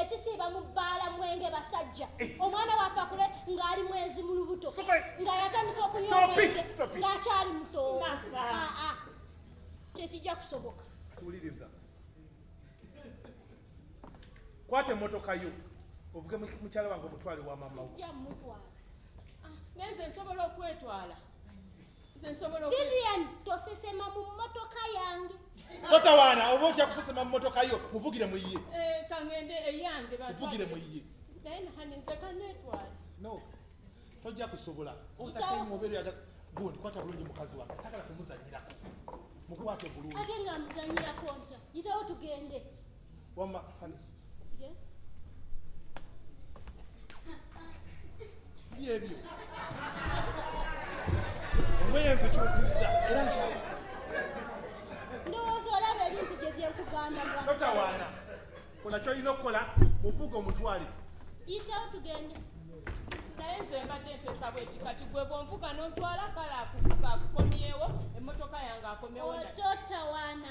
ekisiiba mu bbaala mwenge basajja eh. omwana waffe akule ng'ali mwenzi mu lubuto nga yatandisa okunywa omwenge ng'akyali muto ah, ah. tekijja kusoboka tuwuliriza kwata emmotoka yo ovuge mukyala wange omutwale wa mama wo ah, nenze nsobola okwetwala Vivian tosesema mu mmotoka yange totawaana oba otya kusesema mu mmotoka yo muvugire mu ye eh, kangende eyange eh, muvugire mu ye naye nahaninze kanetwala no tojja kusobola otatemuobeeraga gundi kwata bulungi mukazi wange sagala kumuzanyirako mukwate bulungi ate nga muzanyirako ntya yitawo tugende Wamma honey. Yes. Byebyo. Engoye nze kyosiza era nkyala. Ndowooza olaba ebintu bye bye nkugamba bwa. Totawaana. Kola ky'olina okukola muvuga omutwale. Yitawo tugende. naye nze mbadde ntesa bweti kati gwe bwonvuga nontwala kale akuvuga akukomyewo emmotoka yange akomewo ototawaana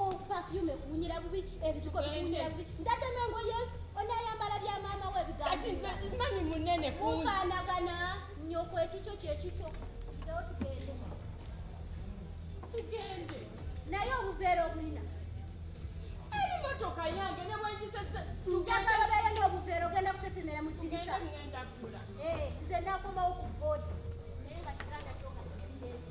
Oh, perfume kunyira bubi ebisiko kunyira bubi ndadde mengo yesu onayambala bya maama we bigamani munene kufanagana nyoko ekikyo kyekikyo ndawo tugende tugende naye obuveera obulina eri motoka yange nebwengisese njagala obeere n'obuveera ogenda kusesemera mu dirisa eh, nze nakomawo ku boodi naye nga kiganda kyoka kikiyezi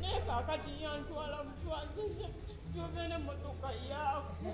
naye kakati yantwala mutwazize gyobera motoka yaako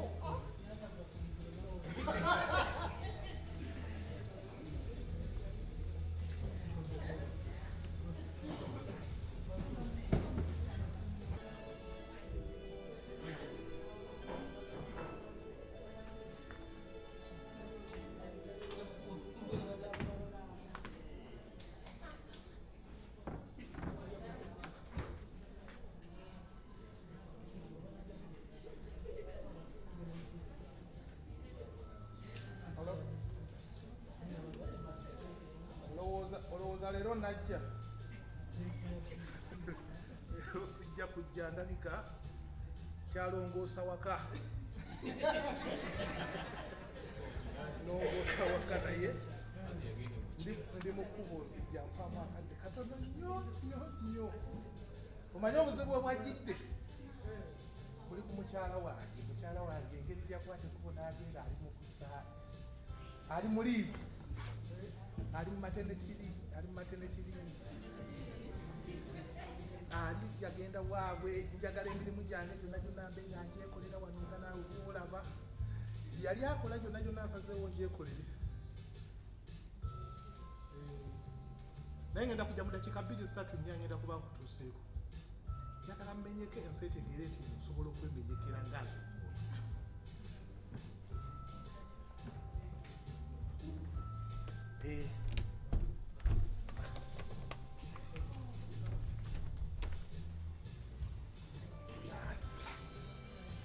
olowooza leero najja leero sijja kujja ndabika kyalongoosa waka nongoosa waka naye ndi mu kkubo nzija mpaamu akadde katono nnyo nnyo nnyo omanyi obuzibu obwajjidde buli ku mukyala wange mukyala wange engeri gyakwata ekkubo n'agenda ali mu kusaa ali mu liivu ali mu matenetiri ali mu matenetiri ali yagenda waabwe njagala emirimu gyange gyonna gyonna mbe nga njekolera wano nga naawe kuolaba yali akola gyonna gyonna nsazeewo ngyekolere eh, naye ngenda kujja mu dakiika bbiri zisatu nnya ngenda kuba nkutuuseeko njagala mmenyeko ensi etegeere nti nsobola okwemenyekera ngaazi omuntu eh.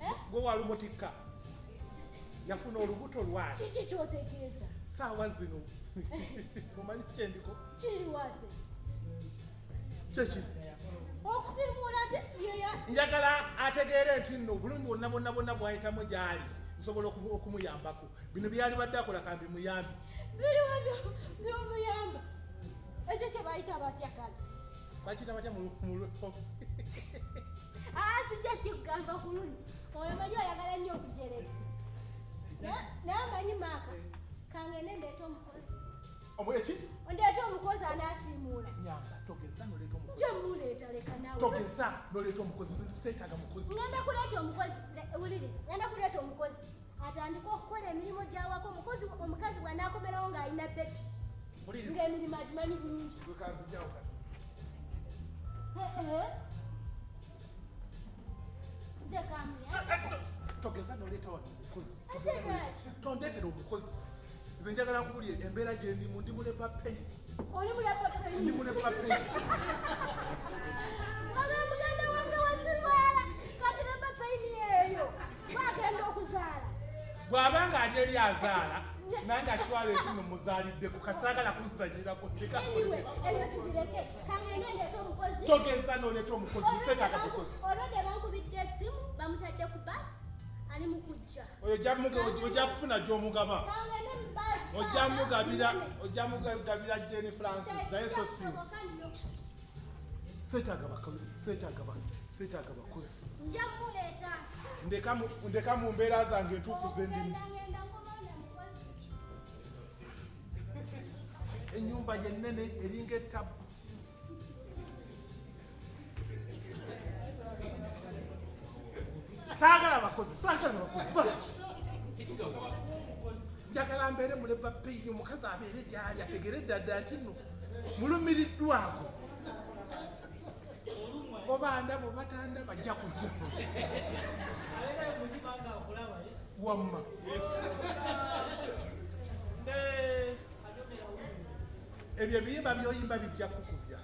eh? gwe walumutikka yafuna olubuto lwaki kiki kyotegeeza saawa zino mumanyi kyendiko kiriwaze kyekiri okusimuula njagala ategeere nti nno obulumi bwonna bwonna bwonna bwayitamu gyali nsobola okumuyambako bino byali badde akola kambi muyambi biriwa byomuyamba ekyo kyebayita batyakala bakiyita batya mululo ah, sijja kikugamba ku luno oyo manyi oyagala nnyo okujereka naye amanyi maaka kangende ndeeta omukozi omweki ondeeta omukozi anasiimuula nyamba togeza noleeta omukozi nja muleeta leka nawe togeza noleeta omukozi seetaga mukozi ngenda kuleeta omukozi wuliriza ngenda kuleeta omukozi atandika okukola emirimu gyawako mukozi omukazi bwanaakomerawo ng'alina bebi ng'emirimu agimanyi bulungi nze kamya togeza noleeta wano omukozi tondetera omukozi nze njagala nkubulye embeera gyendimu ndi mulepa peyi oli mulepa peyi ndi mulepa peyi bwagenda okuzaala bw'aba nga ali eri azaala naye nga kiwala ekimu muzaalidde ku kasaagala kuzanyirako togeza n'oleeta omukozi seetaaka mukozi oyo ojja kufuna gy'omugaba ojja mugabira jeni francis naye so sinsi Seetaaga bakalu, seetaaga ba, seetaaga bakozi. Nja muleeta. Ndeka mu, ndeka mu mbeera zange entuufu ze ndimu. Ennyumba ye nnene eringa ettabu. Saagala bakozi, saagala bakozi baki? Njagala mbeere muleba peyini omukazi abeere gy'ali ategere ddadda nti nno. mulumiriddwako oba ndabo batanda bajja kuja wamma ebyo ebiyimba byoyimba bijja kukubya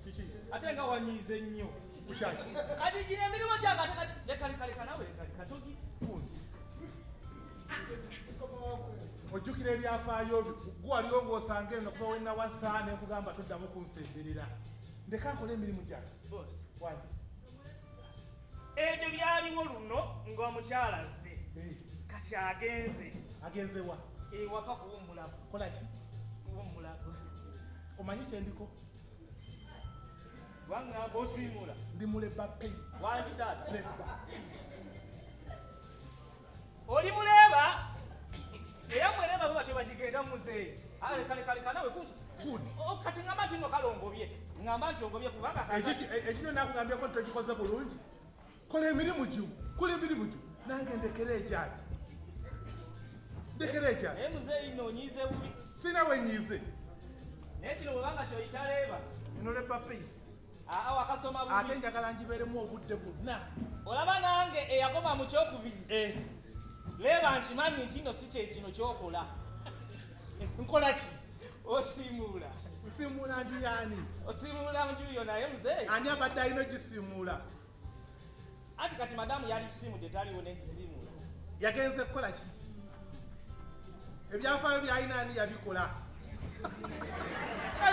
kiki ate nga wanyiize nnyo kukyaki kati gino emirimu gyange ate kati lekalekalekanawekatogi ojjukira ebyafaayo byo gwe waliwo ng'osanga eno kuba wenna wasa ne nkugamba toddamu kunsemberera ndeka nkola emirimu gyange wani ebyo byaliwo luno ng'omukyala azze eh. kati agenze agenze wa ewaka eh, kuwummulako kola ki kuwummulako omanyi kyendiko wangamba osiimula ndi muleba pei wandi taata Oli muleeba era mwereeba babatyo bagigenda muzeeyi ale kale kale kanawe kunsu kati ngamba nti no kale ongobye ngamba nti ongobye kubanga ekikyo nakugambyeko nti tokikoze bulungi kola emirimu gyo kola emirimu gyo nange ndekera ekyaki ndekera ekyaki naye muzeeyi no onyiize bubi sinawe nyiize naye kino bwebanga kyoyita leeba eno lebapei awo akasoma bubi ate njagala njibeeremu obudde bwonna olaba nange eyakoma mu kyokubiri eh. leeba nkimanyi nti no si kyekino kyokola nkola ki osiimuula nsiimuula nju yaani osiimuula nju yo naye muzeeyi ani abadde alina ogisiimuula Ati kati madamu yali simu tetaliwo nekisimu yagenze kukola ki ebyafaayo byalina ani yabikola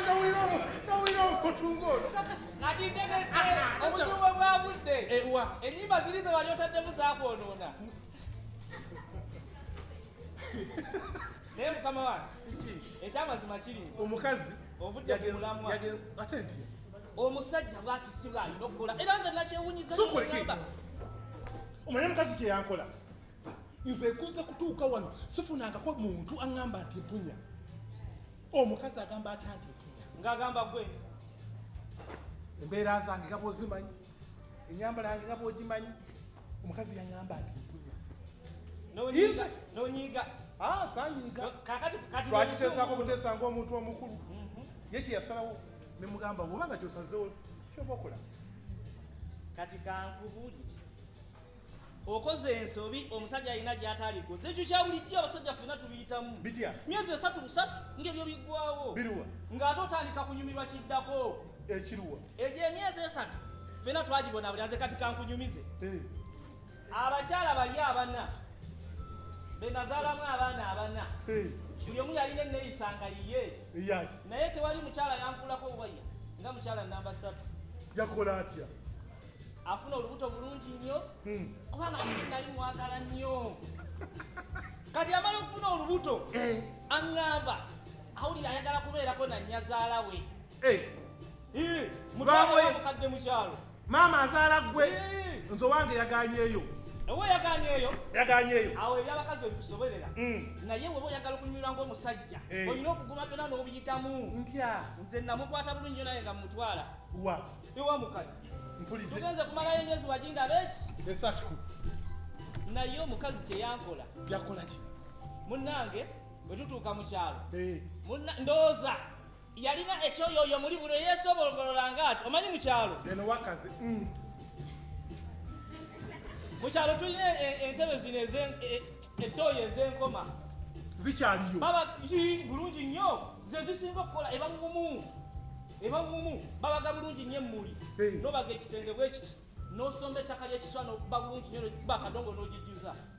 nowulira omutunga ono obutuubo bwagudde enyimba ziri ze wali otaddemu zakwonoona naye mukama wange ekyamazima kiri omukazi ovudde mulamu ate nti omusajja bwatisibwa alina okukola era nze nakyewunyizagamba omanye mukazi kyeyankola nze kuza kutuuka wano sifunangako muntu aŋamba nti mpunya omukazi agamba atya nti mpunya ngaagamba gwe embeera zange nga bwozimanyi enyambala yange nga bwogimanyi omukazi yaŋamba nti mpunya nonyiga ah, sanyiga twakiteesaako buteesa ngaomuntu omukulu mhm. ye kyeyasalawo ne mugamba bwoba nga kyosazewo kyoba okola kati kankubuli okoze ensobi omusajja alina gyataliko zetu kyawulijjo abasajja fena tubiyitamu bitya myezi esatu busatu ngebyo biggwawo biruwa ng'ate otandika kunyumirwa kiddako ekiruwa egyo emyezi esatu fena twagibona buli aze kati kankunyumize eh. abakyala bali abana benazaalamu abaana abana buli omu yalina eneyisa nga yiye naye tewali mukyala yankulako waya nga mukyala namba satu yakola atya afuna olubuto bulungi nnyo hmm. kubanga nali mwagala nnyo kati amala okufuna olubuto eh. aŋŋamba awulira ayagala kubeerako nanyazaala we Eh. Eh. Mutwakadde mukyalo. Maama azaala gwe. Eh. Nzo wange yaganyeyo. Ewe yaganyeyo. Yaganyeyo. Awo ebyabakazi ebikusobolera. Mm. Naye wewe oyagala okunyura ng'omusajja. Eh. Olina okuguma byona n'obiyitamu. Ntya. Nze namukwata bulungi nyo naye nga mutwala. Wa. Ewa mukali. Mpulidde. Tugenze kumalayo emyezi wajinda beeki. Esatu. Naye omukazi kye yankola. Yakola ki? Munnange bwe tutuuka mu kyalo. Eh. Ndowooza. yalina ekyoyoyo muli buli eyesobolgolola nga ati omanyi mukyalo eno wakazi mm. mukyalo tulina e, e, entebe zino e, etoyo ezenkoma zikyaliyo baba bulungi nnyo zezisinga okukola ebagumu ebagumu babaga bulungi nnyo emmuli nobaga ekisenge bwekiti nosomba ettaka lyekiswa nokuba bulungi nnyo bakadongo nogijjuza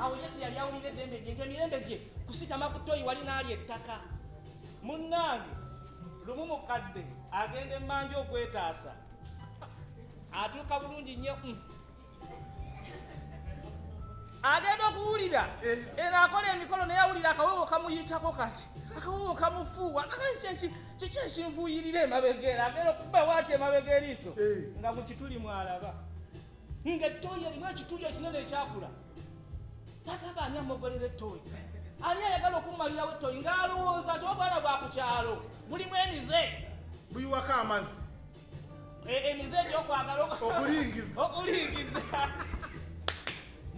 awo yesu yali awulira eddembe gye ngemirembe gye kusitama ku toyi wali naali ettaka munnange lumu mukadde agenda emmanja okwetaasa atuuka bulungi nnyo mm. agenda okuwulira eh. era akola emikolo naye awulira akawewo kamuyitako kati akawewo kamufuuwa kiki ekinfuuyirira emabega era agenda okubawo ati emabega eriiso eh. nga mukituli mwalaba nga ettooyi erimu ekituli ekinene ekyakula tagamba ani amogolera ettooyi ani ayagala okumumalirawo ettooyi ng'alowooza nti obwana bwa ku kyalo bulimu emize buyiwako amazzi e, emize egyokwagala okulingiza okulingiza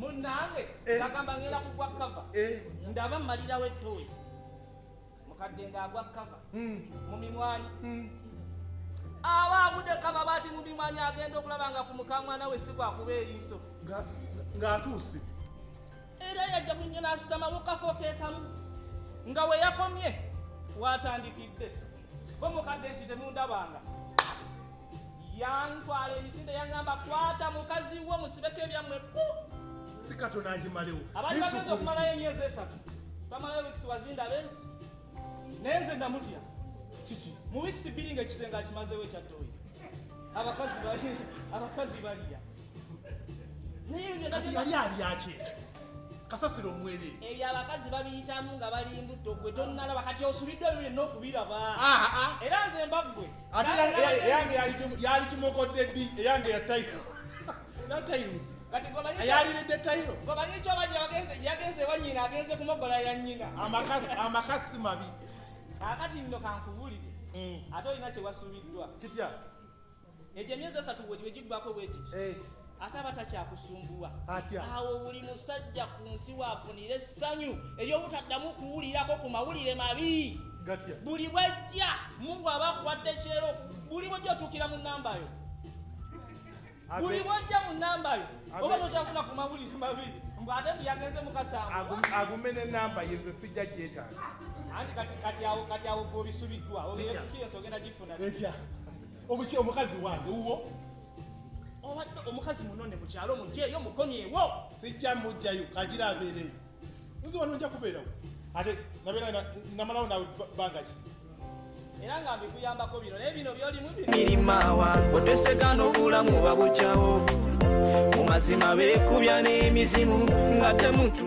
munange eh. agamba ngenda kugwa kava eh. ndaba mmalirawo ettooyi mukadde nga agwa kava hmm. mu mimwanyi hmm. aba abude kava bati mu mimwanyi agenda okulaba nga ku mukamwana we sikwakuba eriiso ng'atuuse era yajja kunyo n'asitama mu kafo keekamu nga we yakomye waatandikidde bo mukadde nti temundabanga yantwala emisinde yaŋŋamba kwata mukazi wo musibeko ebyammwe bu si katonda agimalewo abali bagenda okumalayo emyezi esatu bamalayo wikisi wazinda abensi naye nze namutya kiki mu wikisi bbiri nga ekisenge akimazewo ekyattoyi abakazi bali abakazi baliya naye yali alyaki ekyo kasasiro omwere ebyo abakazi babiyitamu nga bali mbutto gwe tonnalaba kati osubidde ebyo byonna okubiraba era nze mbaggwe ate eyange yali kimokodde ddi eyange yatayo natayinza ayaliride tayiro omanyi kyobajja bagenze yagenze ewa nyina agenze kumogola ya nyina amakasi mabi akati nno kankubulire mm. ate olina kyewasuubiddwa kitya egyo emyezi esatu bwegibe giggwako bwegiti eh. ate aba takyakusumbuwa awo buli musajja ku nsi waafunira essanyu ery'obutaddamu kuwulirako ku mawulire mabi buli bwajja mungu aba akuwadde kyero buli bwajja otuukira mu namba yo buli bwajja mu namba yo oba tokyafuna ku mawulire mabi mbu ate mbu yagenze mukasanguagume ne namba yenze sijja gyetaaga anti kati awo gobisubiddwa obiyesikiyensi ogenda gifuna obuki omukazi wange wuwo obadde omukazi munone mu kyalo mugyeyo mukomyewo sijja mujjayo kagira abeereyo nzi wano nja kubeerawo ate nabeera namalawo nawe bbanga ki era nga mbikuyambako bino naye bino byolimu birimaawa otwesega n'obulamu babukyawo mu mazima beekubya n'emizimu nga temutu